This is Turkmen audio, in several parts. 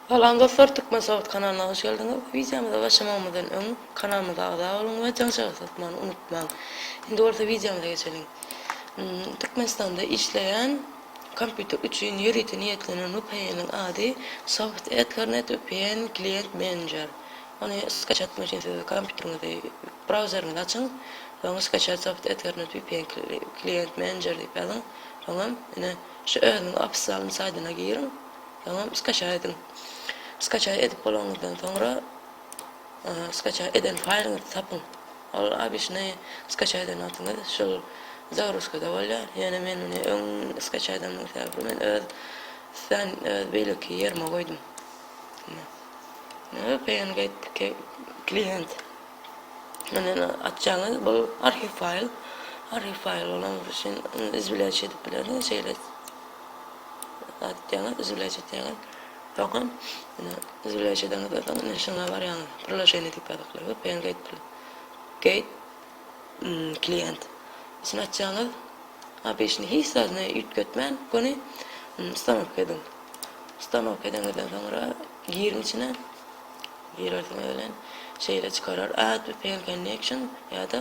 Salam dostlar Türkmen Sogat kanalyna hoş geldiňiz. Wideomyza başlamagymyzdan öň kanalymyza agza boluň we jaň çagysy atmany unutmaň. Indi bolsa wideomyza geçeliň. Türkmenistanda işleýän kompýuter üçin ýörite niýetlenen VPN-iň ady Soft Ethernet VPN Client Manager. Ony skaçatmak üçin siz kompýuteriňizi brauzeriňizi açyň we oňa skaçat Soft Ethernet VPN Client Manager diýip ýazyň. Soňam ine şu özüniň ofissial saýdyna giriň. Soňam skaçaý ediň. Skaçaý edip bolanyňyzdan soňra skaçaý eden faýlyňyzy tapyň. Ol abyşny skaçaý eden wagtyňyz şol zagruzkada bolýar. Ýöne men muny öň skaçaý edeniň sebäbi men öz sen öz beýleki ýerime goýdum. Ne PNGate klient. Meni açjaňyz bu arhiw faýl. Arhiw faýl bolany üçin biz bilen şeýdip bileris. Gatýaňyz üzülýäçe tägin. Soňam ine üzülýäçe deňiz bolsaň ine şuňa barýaňyz. Priloženiýa diýip ýazyplar. VPN gate pli. Gate klient. Şuny açýaňyz. Abyşny hiç zadyny üýtgetmän göni stanok ediň. Stanok edeňizden soňra giriň içine. Girersiňiz bilen şeýle çykarar add VPN connection ýa-da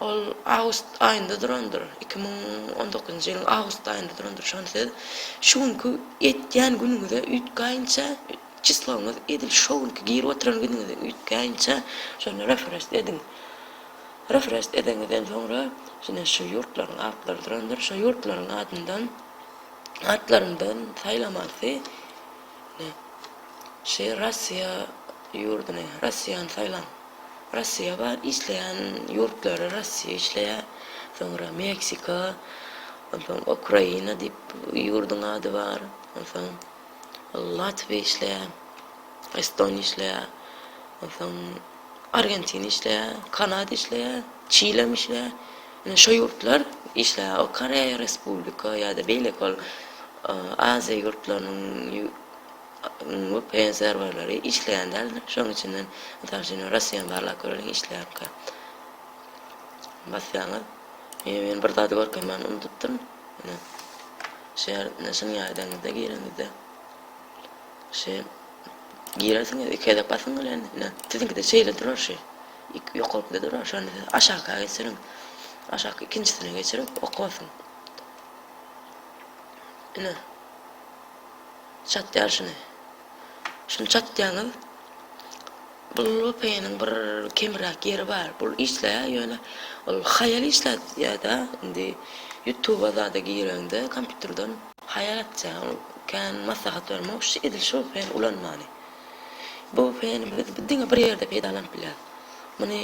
Ol awgust aýynda durandyr. Iki müň on dokuzynjy ýylyň awgust aýynda durandyr. Şony siz şu günki etýän günüňize üýtgäýinçä, çisloňyz edil şo günki girip oturan günüňize üýtgäýinçä şonda refrest ediň. Refrest edeňizden soňra ine şu ýurtlaryň atlary durandyr. Şo ýurtlaryň adyndan atlaryndan saýlamalysy. Ine. Şeýle Russiýa ýurduny, Russiýany saýlaň. Rossiýa bar, işleýän ýurtlary Rossiýa işleýär, soňra Meksika, onsoň Ukraina diýip ýurduň ady bar, onsoň Latwiýa işleýär, Estoniýa işleýär, onsoň Argentina işleýär, Kanada işleýär, Çilem işleýär. Ine şo ýurtlar işleýär. O Koreýa Respublika ýa-da beýleki ol Aziýa ýurtlarynyň bu PN serwerleri işleýän däl şoň içinden mysal üçin Russiýany barlap göreliň işleýärkä basýaňyz men bir zady görkezmäni unudypdyryn ine şu ýerde şunuň ýardaňyzda gireňizde şu girersiňiz iki gezek basyň bilen ine siziňkide şeýle durar şu iki ýokarkide durar şony siz aşakyka geçiriň aşaky ikinjisine geçirip oka basyň ine Çatýar şuny. Şuny çatýaňyz. Bu lopeniň bir kemräk ýeri bar. Bu işleýär ýöne ol haýal işläýdä indi ýutuba zada gireňde kompýuterden haýal etýär ol kän maslahat bermok şu edil şu pen ulanmany. Bu peni biz diňe bir ýerde peýdalanyp bilýäs. Muny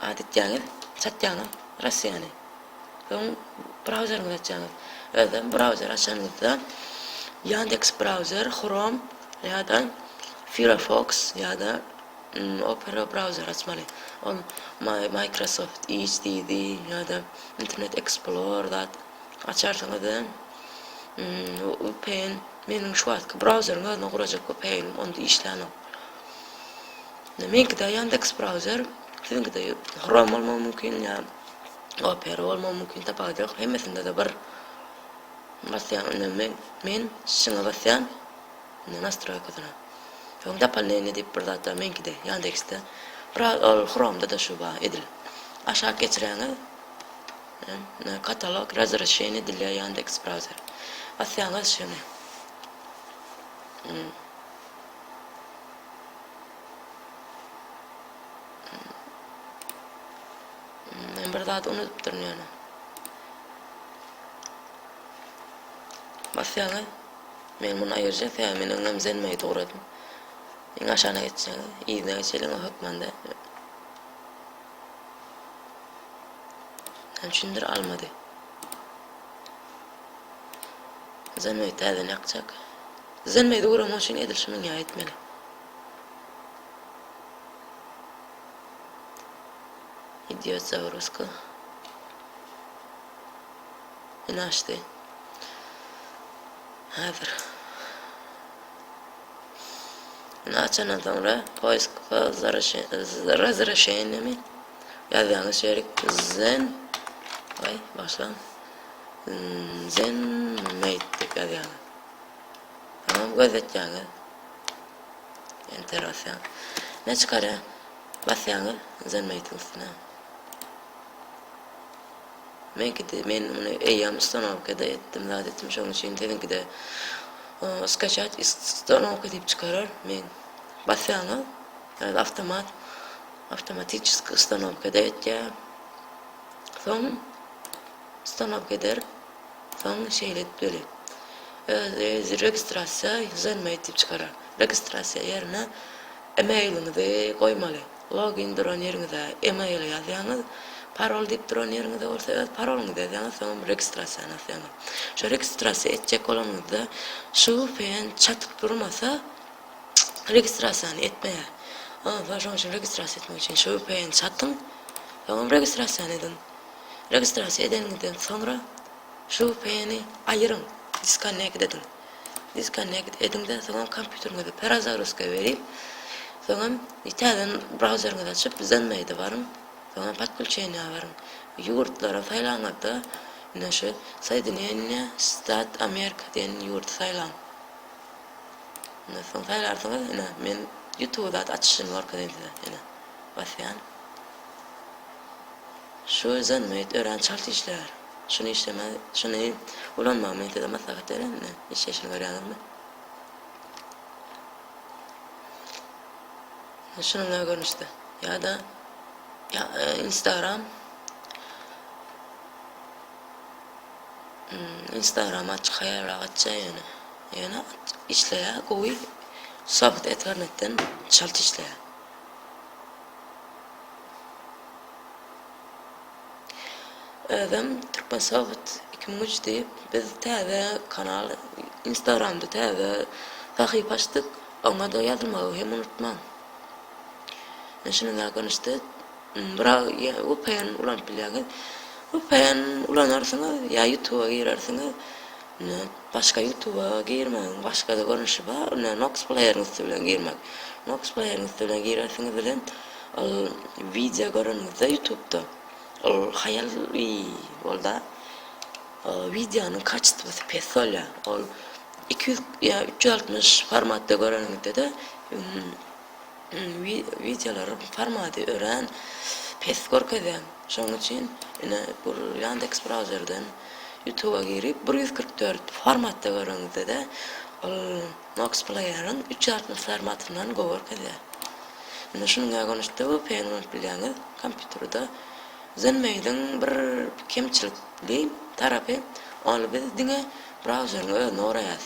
adetýäňiz çatýaňyz Russiýany. Soň brauzeriňizi açaňyz. Özem brauzeri açanyňyzda Yandex brauzer, Chrome ýa-da Firefox ýa-da Opera brauzeri açmaly. Ol Microsoft Edge diýdi ýa-da Internet Explorer zat açarsyňyz-da. VPN meniň şu wagtky brauzeriň özüne gurajak VPN-im onda işlänok. Meňkide Yandex brauzer, siziňkide Chrome bolmagy mümkin ýa Opera bolmagy mümkin tapawudy ýok hemmesindede bir basýan indi men men şyňa basýan indi nastroýkasyna soň dopoldnenie diýip bir zat bar meňkide ýandeksde biraz ol chromda da şu bar edil aşak geçiräňiz katalog razrešeniýe edilýär ýandeks brauzer basýaňyz şyny Men bir zat unudypdyryn ýöne. Basýaňy. Men muny aýyrja tä men öňem zenmeýi dogradym. Iň aşagyna geçjäň. Yzyna geçeliň o hökmanda. Näme üçindir almady. Zenmeýi täzeden ýakjak. Zenmeýi dogramyň üçin edil şu münýä etmeli. Idýot zagroska. Ine açdy. Häzir. Ine açandan soňra poisk razrešenemi ýazýaňyz şerik zen Ay başlan zen meyt dip ýazýaňyz. Tamam gözletýäňiz. Enter basýaň. Ne çykarýar? Basýaňyz Zenmate'in üstüne. Men gidi, men muny eýýam ustanovkada etdim, zat etdim, şoň üçin siziňki de skaçat ustanovka diýip çykarar. Men basýaňyz, ýa-da avtomat, avtomatiçeski ustanovkada etýär. Soň Stanok eder, soň şeýle edip beli. Özi registrasiýa ýüzenme diýip çykarar. Registrasiýa ýerine emailiňizi goýmaly. Login duran ýeriňize email ýazýaňyz, parol diýip duran ýeriňize bolsa öz parolyňyzy ýazýaňyz, soňam registrasiýany basýaňyz. Şo registrasiýa etjek bolanyňyzda şu vpn çatyp durmasa, registrasiýany etmeýär. Ondan soň şonuň üçin registrasiýa etmek üçin şu vpn çatyň, soňam registrasiýany ediň. Registrasiýa edeniňizden soňra şu VPN-i aýyryň, disconnect ediň. Disconnect ediňden soňam kompýuteriňizi perazagruska beriň. Soňam täzeden brauzeriňizi açyp ZenMaid-e baryň. Soňam podkulçeniýa baryň. Ýurtlary saýlaňyzda indi şu Soýedineniýe Stat Amerika diýen ýurdy saýlaň. Ondan soň saýlarsyňyz ine men Ýutuby zat açyşyny görkezeýin size ine basýan. Şu özem beýt örän çalt işlär. Şuny işleme, şuny ulanma men size maslahat berýän indi. Işleýşini görýäňizmi? Şunuňla görnüşde. Ýa-da ýa, e, Instagram Hmm, Instagram açyk haýalrak açja ýöne. Ýöne işleýä gowy. Sohbet eternetden çalt işleýä. Özem Türkmensoft iki müň üç diýip biz täze kanal instagramda täze sahypa açdyk oňada ýazylmagy hem unutmaň. Men şunuň ýaly görnüşde biraz vpn ulanyp bilýäňiz. Vpn ulanarsyňyz ýa ýutuba girersiňiz. Ine, başga ýutuba girmegiň başga-da görnüşi bar. Ine, Nox pleýeriň üsti bilen girmek. Nox pleýeriň üsti bilen girersiňiz welin, ol wideo göreniňizde ýutubda, ol haýal i, bolda, wideonyň kaçestwasy pes bolýar. Ol iki ýüz ýa üç ýüz altmyş formatda göreniňizde-de, Wideolaryň formaty örän pes görkezýän. Şonuň üçin ine bu Yandex brauzerden Youtube-a girip bir ýüz kyrk dört formatda göreňizde-de ol Nox player-iň üç ýüz altmyş formatyndan gowy görkezýär. Ine şunuň ýa gönüşde vpn ulanyp bilýäňiz kompýuterda. Zenmail-iň bir kemçilikli tarapy ol biz diňe brauzeriň özüni goraýas.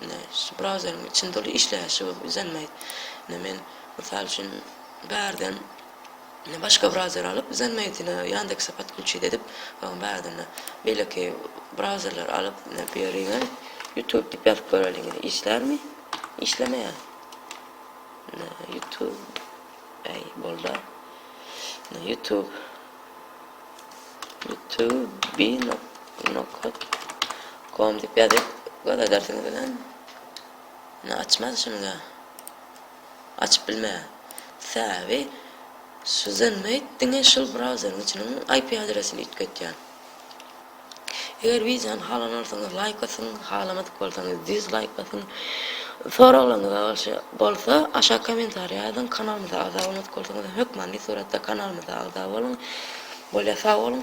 Indi şu brauzeriň içinde ol işleýäşi bolup izenmeýd. Indi men mysal üçin bärden başga brauzer alyp izenmeýdine Ýandekse podklüçit edip soň bärden beýleki brauzerleri alyp bu ýeriňe YouTube diýip ýazyp göreliň işlärmi? Işlemeýär. YouTube. Ey bolda. YouTube. Tüw bi nokat kom dip ýazyp göz edersiňiz bilen ne açmaz şunyňa açyp bilme säbi şu zenmeit diňe şul brauzeriň içiniň IP adresini üýtgetýär. Eger wideony halan bolsaňyz laýk basyň, halamadyk bolsaňyz dizlaýk basyň. Soraglaryňyz bolşy bolsa aşak kommentariýa ýazyň, kanalymyza agza bolmadyk bolsaňyzam hökmany suratda kanalymyza agza boluň. Bolýa sag boluň.